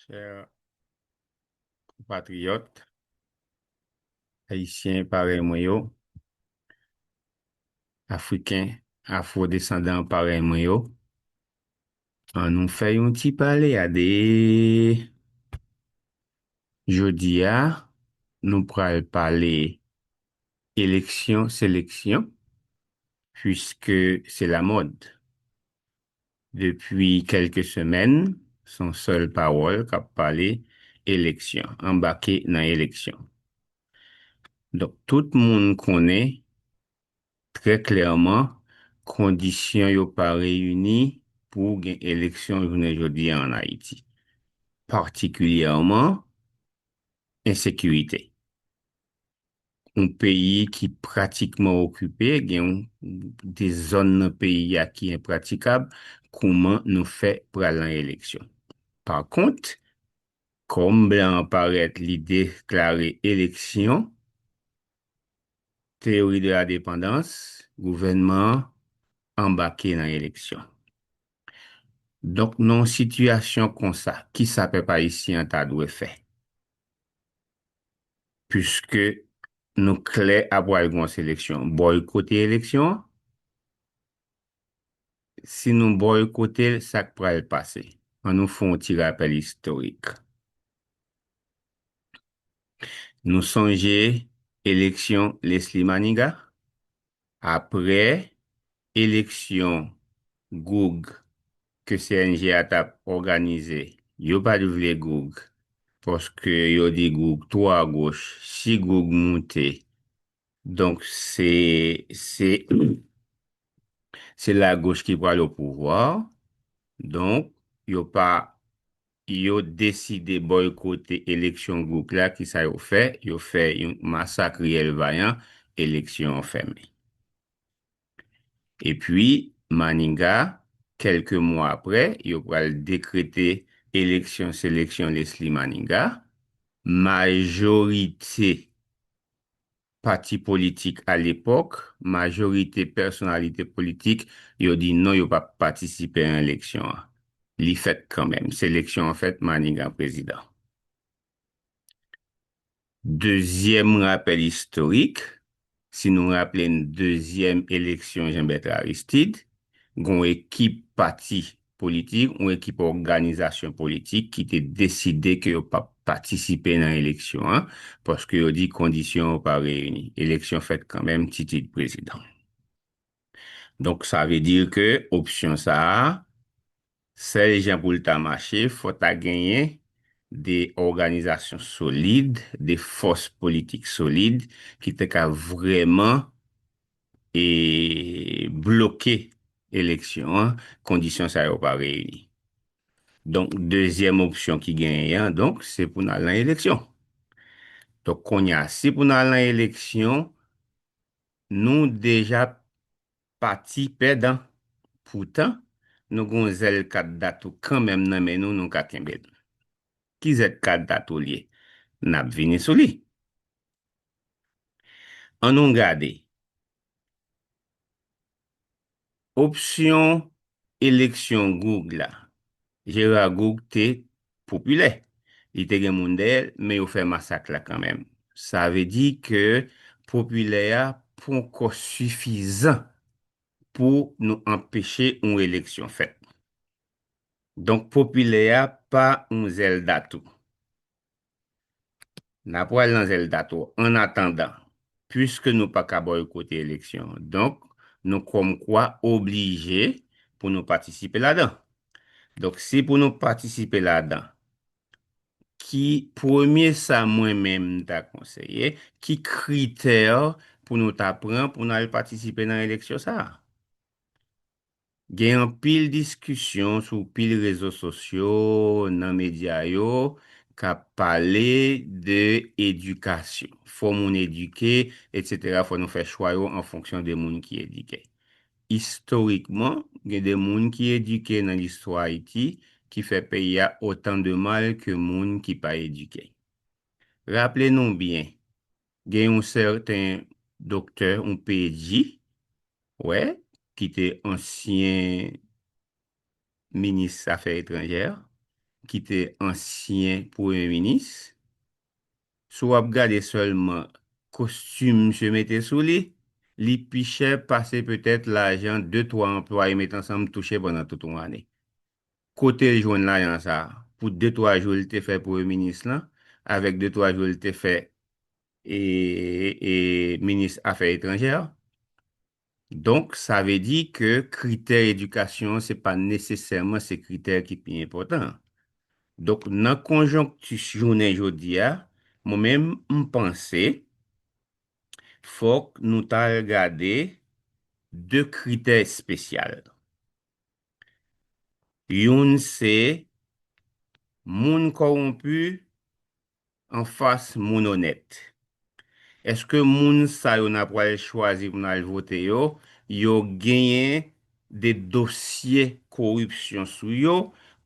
Chèr konpatriyòt Ayisyen parèy mwen yo, Afriken afwodesandan parèy mwen yo, an nou fè yon ti pale a de Jodia nou pral pale eleksyon seleksyon puiske se lamòd. Depi kelke semèn son sèl pawòl kap pale eleksyon, anbake nan eleksyon. Donk tout moun konnen Trè klèman, kondisyon yo pa reyini pou gen eleksyon jounen jodi a an Ayiti. Patikilyèman, ensekirite. Yon peyi ki pratikman okipe, gen yon de zòn nan peyi a ki enpratikab, kouman nou fè pral nan eleksyon? Pa kont, kòm blan an parèt li deklare eleksyon, Teyori de la depandans, gouvènman an anbake nan eleksyon. Donk nan yon sitiyasyon konsa, kisa pèp ayisyen an ta dwe fè? Piske nou klè ap pral gen yon seleksyon, bòykote eleksyon an? Si nou bòykote l, sa k pral pase? Annou fè yon ti rapèl istorik. Nou sonje eleksyon Lesly Maniga, apre eleksyon Goug ke CNG a t ap òganize, yo pa t vle Goug paske yo di Goug twò agoch, si Goug moute Donk se se se la goch ki pral o pouvwa donk yo pa yo deside boykote eleksyon gouk la ki sa yo fè yo fè yon masak riyèl vayan eleksyon fèmen. Epi, Maniga, kèlke mwa apre, yo pral dekrete eleksyon seleksyon Lesly Maniga. Majorite pati politik alepòk, majorite pèsonalite politik, yo di non yo pa p patisipe an eleksyon an. Li fèt kanmenm. Seleksyon an fèt, Maniga prezidan. Dezyèm rapèl istorik, si nou raple n dezyèm eleksyon Jean Bertrand Aristide, gen yon ekip pati politik, yon ekip òganizasyon politik ki te deside ke yo pap patisipe nan eleksyon an, paske yo di kondisyon yo pa reyini. Eleksyon fèt kanmenm, Titid prezidan. Donk sa vle di ke opsyon sa a, sèl jan pou l ta mache, fò ta genyen de òganizasyon solid, de fòs politik solid ki te ka vrèman e bloke eleksyon an, kondisyon sa yo pa reyini. Donk dezyèm opsyon ki genyen an, donk se pou n al nan eleksyon. Donk kounye a, si pou n al nan eleksyon, Nou deja pati pèdan poutan nou gon zèl kat datou kanmenm nan men nou nou ka kenbel. Ki zèl kat datou lye? Nap vini sou li. An nou gade. Opsyon eleksyon Goug la, Gérard Goug te popilè, li te gen moun dèyè l, men yo fè masak la kanmenm. Sa vle di ke popilè a ponkò sifizan pou nou anpeche yon eleksyon fèt. Donk popilè a pa yon zèlda tou. N a pwal nan zèl tato annatandan, pwiske nou pa ka bòykote eleksyon, donk nou kòmkwa oblije pou nou patisipe ladan. Donk si pou nou patisipe ladan, ki premye sa mwen menm m ta konseye, ki kritè pou nou ta pran pou n al patisipe nan eleksyon sa a? Gen anpil diskisyon sou pil rezo sosyo, nan medya yo, k ap pale de edikasyon. Fò moun edike, etsetera, fò nou fè chwa yo an fonksyon de moun ki edike. Istorikman, gen de moun ki edike nan listwa Ayiti ki fè peyi a otan de mal ke moun ki pa edike. Raple nou byen, Gen yon sèten Doktè, yon PG, wè, ki te ansyen Minis Afè Etranjè, ki te ansyen Premye Minis. Si w ap gade sèlman kostim misye mete sou li, li pi chè pase petèt lajan de twa anplwaye met ansanm touche pandan tout yon ane. Kote l jwenn lajan sa pou de twa jou l te fè premye minis lan avèk de twa jou l te fè minis afè etranjè? Donk sa vle di ke kritè edikasyon se pa nesesèman se kritè ki pi enpòtan an. Donk nan konjonkti jounen jodi a, mwen menm m panse fòk nou ta al gade de kritè espesyal. Youn se Moun kòwonpi anfas moun onèt. Eske moun sa yo na pwal chwazi pou nal vote yo, yo genyen de dosye koripsyon sou yo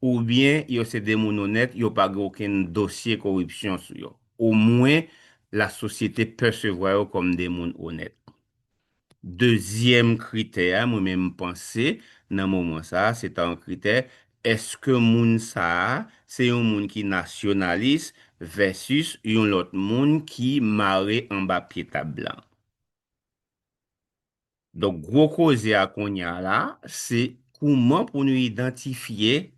oubyen yo se de moun onèt yo pa gen okenn dosye koripsyon sou yo? Omwen lasosyete pèsevwa yo kòm de moun onèt. Dezyèm kritè a mwen menm m panse nan moman sa a se ta yon kritè èske moun sa a se yon moun ki nasyonalis vèsis yon lòt moun ki mare anba pye tab blan. Donk gwo koze a konnya la se kouman pou nou idantifye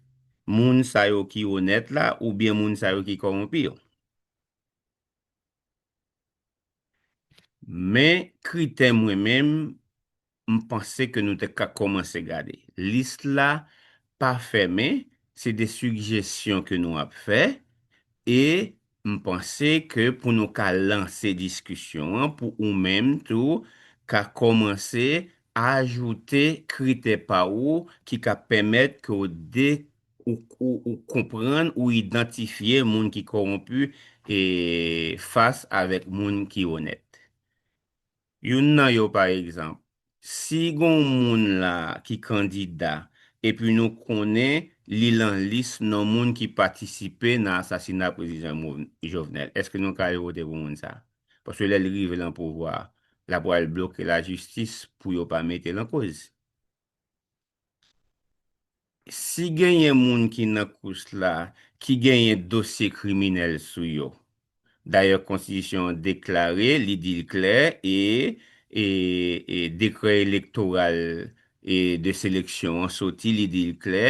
moun sa yo ki onèt la oubyen moun sa yo ki kowonpi yo. Men kritè mwen menm m panse ke nou te ka kòmanse gade. Lis la pa fèmen, se de sigjesyon ke nou ap fè e m panse ke pou nou ka lanse diskisyon an pou ou menm tou ka kòmanse ajoute kritè pa ou ki ka pèmèt ke w de Ou konprann, ou idantifye moun ki kowonpi fas avèk moun ki onèt. Youn nan yo pa egzanp, si gon moun la ki kandida epi nou konnen li lan lis non moun ki patisipe nan asasina prezidan Jovenel, eske nou ka al vote pou moun sa? Paske lè li rive lan pouvwa, la pwal bloke lajistis pou yo pa mete lan koz. Si genyen moun ki nan kous la ki genyen dosye kriminèl sou yo. Dayè konstitisyon an deklare, li di l klè e e dekrè elektoral e de seleksyon an soti li di l klè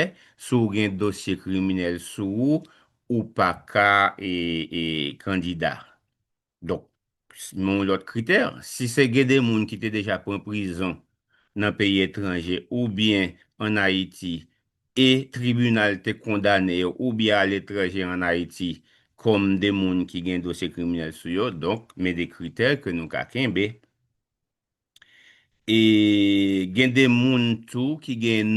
si w gen dosye kriminèl sou ou ou pa ka e e kandida. Donk, men yon lòt kritè, si se gen de moun ki te deja pran prizon nan peyi etranje oubyen an Ayiti e tribinal te kondane yo oubyen aletranje an Ayiti kòm de moun ki gen dosye kriminèl sou yo, donk men de kritè ke nou ka kenbe. E gen de moun tou ki gen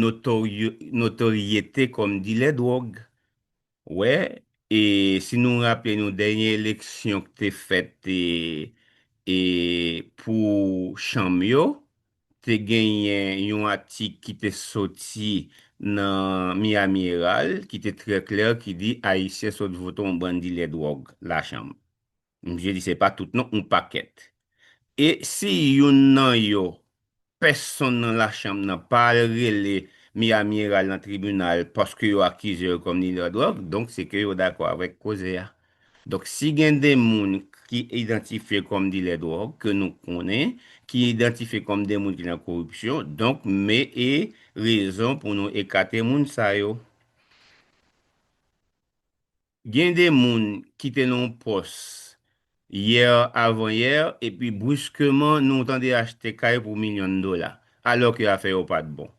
notoryete kòm dilè dwòg. Wè, e si nou raple nou dènye eleksyon k te fèt e pou chanm yo, te genyen yon atik ki te soti nan Miami Herald ki te trè klè ki di Ayisyen sot vote yon bann dilè dwòg lachanm. Misye di se pa tout non yon pakèt. E si youn nan yo pèsonn nan la chanm nan pa al rele Miami Herald nan tribinal paske yo akize yo kòm dilè dwòg donk se ke yo dakò avèk koze a. Donk si gen 2 moun ki idantifye kòm dilè dwòg ke nou konnen ki idantifye kòm 2 moun ki nan koripsyon donk me e rezon pou nou ekate moun sa yo. Gen de moun ki te nan yon pòs yè avan yè epi bruskeman nou tande achte kay pou milyon dola alò ke afè yo pat bon.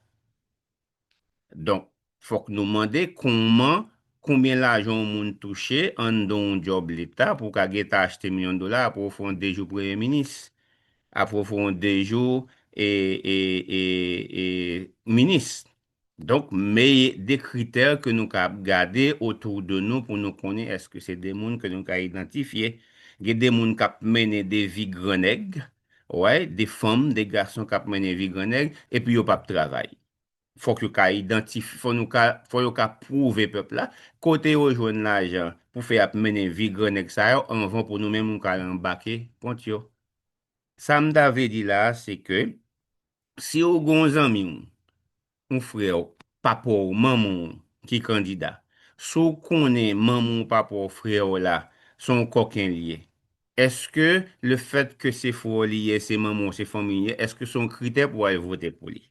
Donk fòk nou mande kouman konbyen lajan yon moun touche anndan yon djòb leta pou ka gentan achte milyon dola apre ou fè yon 2 jou premye minis, apre ou fè yon 2 jou e e e minis. Donk meye de kritè ke nou ka ap gade otou de nou pou nou konnen eske se de moun ke nou ka idantifye. Gen de moun kap mennen de vi gran nèg, way, de fanm, de gason kap mennen vi gran nèg, epi yo pap travay. Fòk yo ka idantif, fò nou ka, fò yo ka pwouve pèp la kote yo jwenn lajan pou fè ap mennen vi gran nèg sa yo anvan pou nou menm nou ka al anbake kont yo. Sa m ta vle di la a se ke Si ou gen yon zanmi w, yon frè w, papa w, manman w ki kandida, si w konnen manman w, papa w, frè w la se yon kòken li ye, èske lefèt ke se frè w li ye, se manman w, se fanmi w li ye, èske se yon kritè pou w al vote pou li?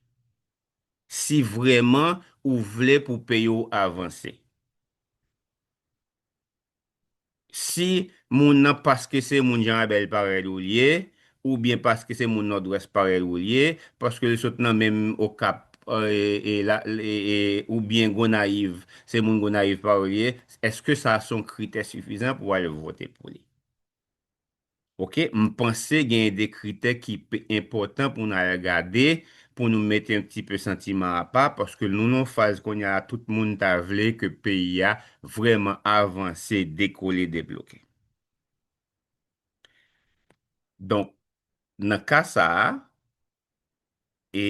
Si vrèman ou vle pou peyi w avanse. si moun nan paske se moun Janrabèl parèy ou l ye, oubyen paske se moun Nòdwès parèy ou l ye, paske l sot nan menm Okap e oubyen Gonayiv, se moun Gonayiv parèy ou l ye, èske sa s on kritè sifizan pou w al vote pou li? Ok m panse genyen de kritè ki p enpòtan pou n al gade pou nou mete yon ti pe santiman apa paske nou nan faz kounye a tout moun ta vle ke peyi a vrèman avanse dekole debloke donk nan ka sa a e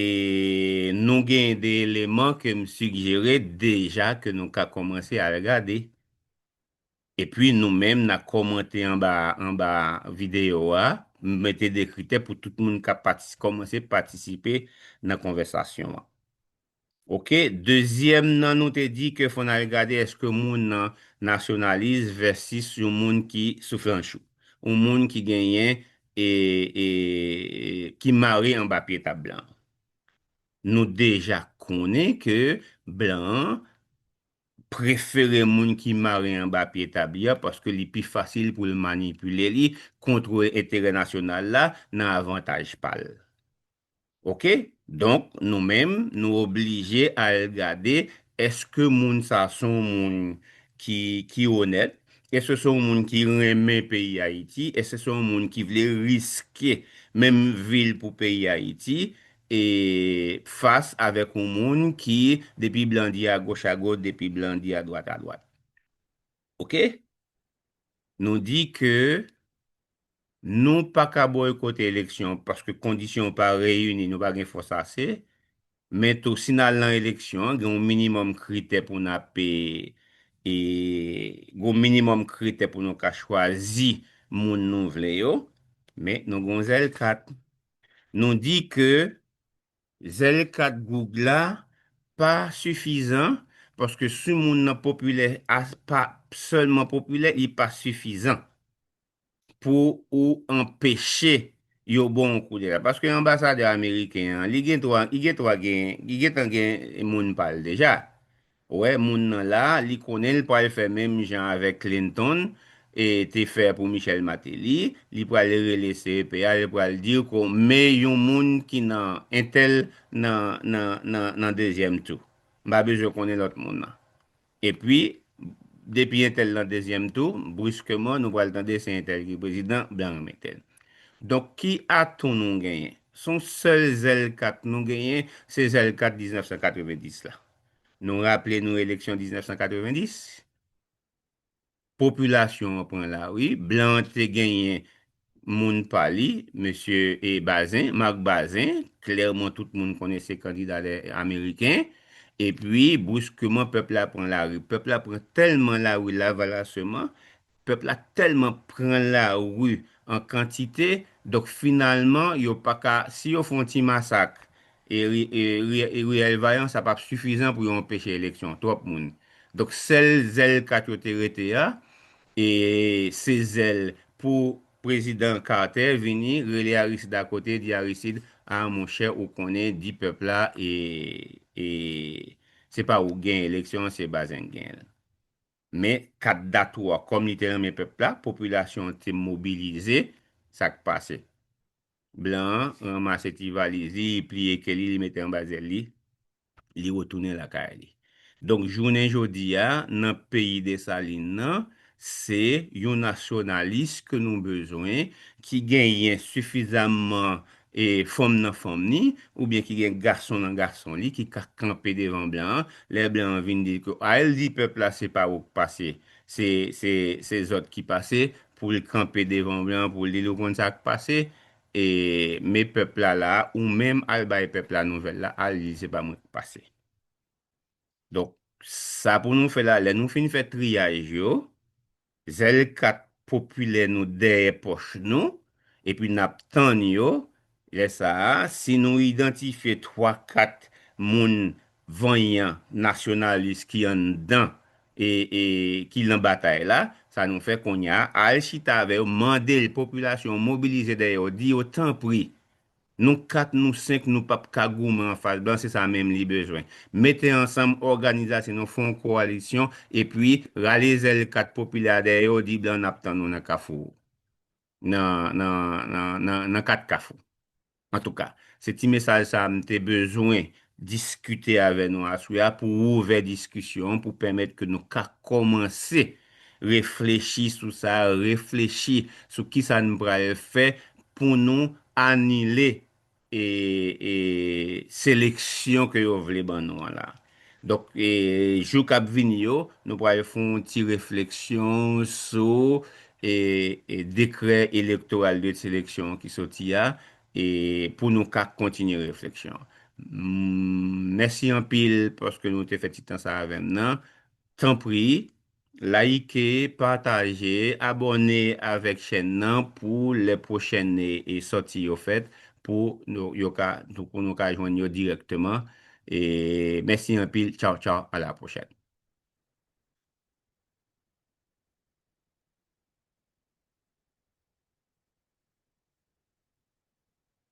nou genyen de eleman ke m sigjere deja ke nou ka kòmanse al gade. Epi nou menm na kòmante anba anba videyo a, m mete 2 kritè pou tout moun ka patis kòmanse patisipe nan konvèsasyon an. Ok, dezyèm nan nou te di ke fò n al gade èske moun nan nasyonalis vèsis yon moun ki souflanchou, yon moun ki genyen e e ki mare anba pye tab blan. Nou deja konnen ke blan an prefere moun ki mare anba pye tab ya paske li pi fasil pou l manipile li, kontwole enterè nasyonal la nan avantaj pa l. Ok, donk nou menm nou oblije al gade eske moun sa s on moun ki onèt, eske s on moun ki renmen peyi Ayiti, eske s on moun ki vle riske menm vi l pou peyi Ayiti, e fas avèk yon moun ki depi blan di agoch agoch depi blan di adwat adwat ok nou di ke nou paka boykote eleksyon paske kondisyon yo pa reyini nou pa gen fòs ase men tou si nal nan eleksyon gen yon minimòm kritè pou nap e gen yon minimòm kritè pou nou ka chwazi moun nou vle yo men nou gen yon zèl kat Nou di ke zèl kat goug la pa sifizan paske si moun nan popilè a pa sèlman popilè li pa sifizan pou ou anpeche yo ba w yon koudeta. Paske anbasadè ameriken an li gen twa li gen twa gen li gentan gen moun pa l deja. Wè moun nan la, li konnen l pral fè menm jan avèk Clinton e te fè pou Michel Martelly, li pral rele CEP a, li pral di ko me yon moun ki nan entèl nan nan nan nan dezyèm tou. M pa bezwen konnen lòt moun nan. Epi, depi entèl nan dezyèm tou, briskeman nou pral tande se entèl ki prezidan, blan remete l. Donk ki atou nou genyen? S on sèl zèl kat nou genyen, se zèl kat 1990 la. Nou raple nou eleksyon 1990, popilasyon an pran lari, blan an te genyen moun pa li, mesye Bazin, Marc Bazin, klèman tout moun konnen se kandida lè ameriken, epi bouskeman pèp la pran lari. Pèp la pran tèlman lari lavalasyeman, Pèp la tèlman pran lari an kantite, donk finalman yo pa ka, si yo fè yon ti masak riyèl vayan sa pap sifizan pou yo anpeche eleksyon, twòp moun. Donk sèl zèl kat yo te rete a, e se zèl pou prezidan Carter vini rele Aristide akote di Aristide, a monchè ou konnen di pèp la e se pa ou k gen eleksyon an se Bazin k gen l. Men, 4 dat ou a, kòm li te renmen pèp la, popilasyon an te mobilize, sa k pase? Blan an ranmase ti valiz li, li pliye ke li, li mete anba zèl li, li retounen lakay li. Donk, jounen jodi a, nan peyi Desalin nan, se yon nasyonalis ke nou bezwen, ki genyen sifizamman E fanm nan fanm ni, oubyen ki gen gason nan gason li ki ka kanpe devan blan an, lè blan an vin di ke a el di pèp la se pa wou k pase, se se se zòt ki pase, pou l kanpe devan blan an pou l di l ou konn sa k pase, e me pèp la la a, ou menm al bay pèp la nouvèl la, al di l se pa mwen k pase. Donk, sa pou nou fè la, lè nou fin fè triyaj yo, zèl kat popilè nou dèyè pòch nou, epi n ap tann yo, lè sa a, si nou idantifye twa kat moun vanyan, nasyonalis ki anndan e ki lan batay la, sa nou fè kounye a, al chita avè yo, mande l, popilasyon an, mobilize dèyè yo, di yo tanpri, Nou 4 nou 5 nou pap ka goumen anfas blan se sa menm li bezwen. Mete ansanm òganizasyon nou fè yon kowalisyon epi rale zèl 4 popilè a dèyè yo di blan nap tann ou nan kafou nan nan nan nan 4 kafou. Antouka se ti mesaj sa m te bezwen diskite avè nou aswè a pou ouvè diskisyon pou pèmèt ke nou ka kòmanse Reflechi sou sa, reflechi sou kisa n pral fè pou nou anile seleksyon ke yo vle ban nou an la. Donk jou k ap vini yo, nou pral fè yon ti refleksyon sou dekrè elektoral de seleksyon an ki soti a pou nou ka kontinye refleksyon an. Mèsi anpil paske nou te fè ti tan sa avè m nan. Tanpri Like, pataje, abòne avèk chèn nan pou lè pwochèn sòti yo fèt pou yo ka pou nou ka jwenn yo dirèkteman Mèsi anpil Tchaw tchaw a la pwochèn.